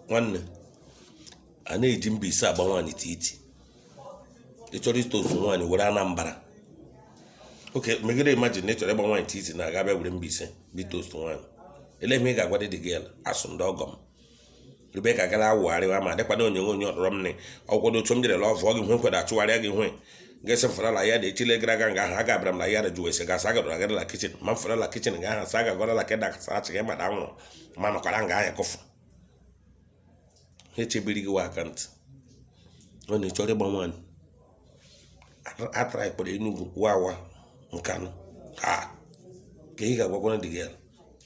nwanne a na-eji mbaise agba nwaanyị titi ị chọrọ ịtoosu nwaanyị were anambra oke megide imajin na ị chọrọ ịgba nwaanyị titi na aga bịa were mbaise ịtoosu nwaanyị ele ihe ị ga-agwa dị dị gị asụ ndị ọgọ m rube ka gara awụgharịwa ma dịkwana onyonyo onye ọdọrọ m nị ọkwado otu m jere lọvụọ gị hwe nkwado achụgharịa gị hwe gese fara la yard echile gara aga nga ha gabara m la yard jụọ ese gasa agadọrọ agara la kichin ma fara la kichin nga ha sa agagọrọ la keda kasa achị gị mada nwụrụ ma nọkwara nga ahịa kọfụ ha echebiri gị wa akantị ọ na ị chọrọ ịgba nwaanyị atara ikpere enugwu wawa nkanụ ha ka ị ga-agwakwara dị gị ya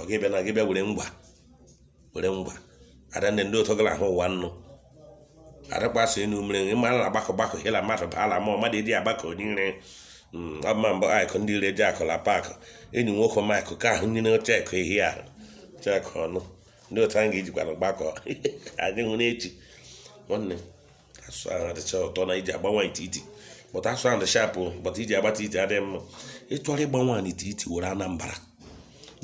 ọ gị bịa na gị bịa were ngwa were ngwa ada ndị ndị otu gara ahụ ụwa nnụ adakpasị enu mere ị ma na agbakọ gbakọ hela mmadụ baala ma mmadụ edi agbakọ niile ọma mbụ aịkụ ndị ire ji akụla paakụ enyi nwoke maịkụ ka ahụ nyere chekụ ehi ahụ chekụ ọnụ ndị otu anyị ga-ejikwana gbakọ adịghị n'echi nwanne asụsụ ahụ adịcha ụtọ na iji agba nwaanyị titi bụta asụ ahụ dị shapụ bụta iji agba titi adịghị mma ị chọrọ ịgba nwaanyị titi were anambra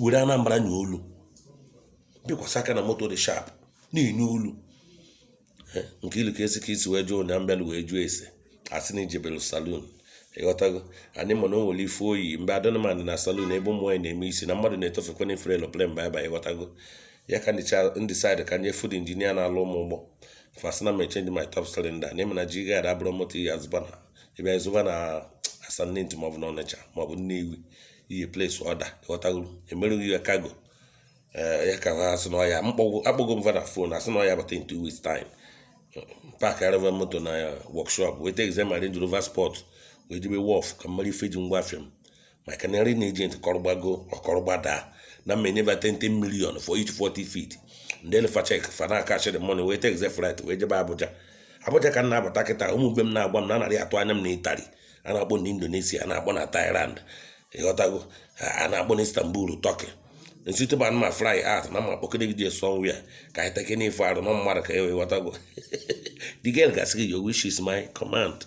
were anambra nye olu bikwasa aka na moto dị shap na-enye olu eh, nke ilu ka esi ka isi wee jụọ ụnya m bịalụ wee jụọ ese asị na i jebelu salun ịghọtago anyị ma na o nwere ife oyi mgbe adọnman na salon ebe ụmụ nwaanyị na-eme isi na mmadụ na-etofekwa na efere eloplem baịba ịghọtago ya ka ndị saịdị ka nye fud injinia na-alụ mụ ụgbọ fa sị na mụ change my top cylinder na ị ma na G-Guard abụrọ moto ị ya-azụba na ịbịa ịzụba na asa nnentu maọbụ na ọnịcha maọbụ nnewi ị ya ples ọda ịghọtago emere gị ya kago eh, ya ka ha asị na ọya akpọgo m va na fon asị na ọ ya-abata in two weeks time pakarị va moto na workshop weta exam range rover sport wee jebe wọf ka m mara ife ji ngwa afịa m maka na clearing agent kọrọ gbago ọ kọrọ gbada na mụ enye va 10 million for each 40 feet m deelu fa chek fa na cash the money wee take flight wee jebe abuja abuja ka m na-abata kịta ụmụ mgbe m na-agwa m na anarị atụ anya m na itali a na-akpọ na indonesia a na-akpọ na thailand ịghọtago a na-akpọ na istanbul turkey nsite ba ma fly out na ma kpọkede gị dị somewhere ka anyị take n'ife arụ na mmadụ ka e wee ghọtago the girl ga-asị gị your wish is my command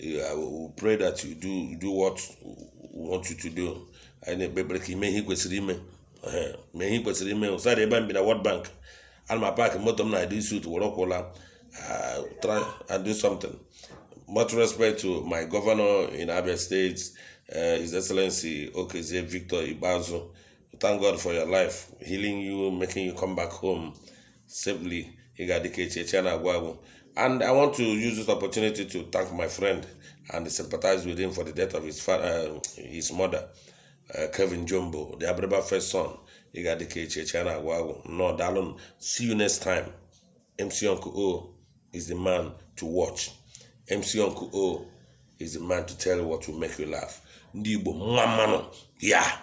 I will pray that you do, you do what we want you to do. anyị na-ekpe ekpere ka i mee ihe kwesịrị ime mee ihe kwesịrị ime ụsara ebe m bi na World Bank ana m apak moto m na dị sut were ụkwụ laa uh, try and do something much respect to my governor in Abia State uh, His Excellency Okezie Victor Ikpeazu thank God for your life healing you making you come back home safely ị ga-adị ka echi echi ana agwụ agwụ and i want to use this opportunity to thank my friend and sympathize with him for the death of his, fa- uh, his mother uh, kevin jumbo the abịrịba first son ị ga-adị ka echi echi ana agwụ agwụ nnọọ daalụ nụ see you next time mc uncle o is the man to watch mc uncle o is the man to tell you what will make you laugh ndị igbo mma mma nụ yeah.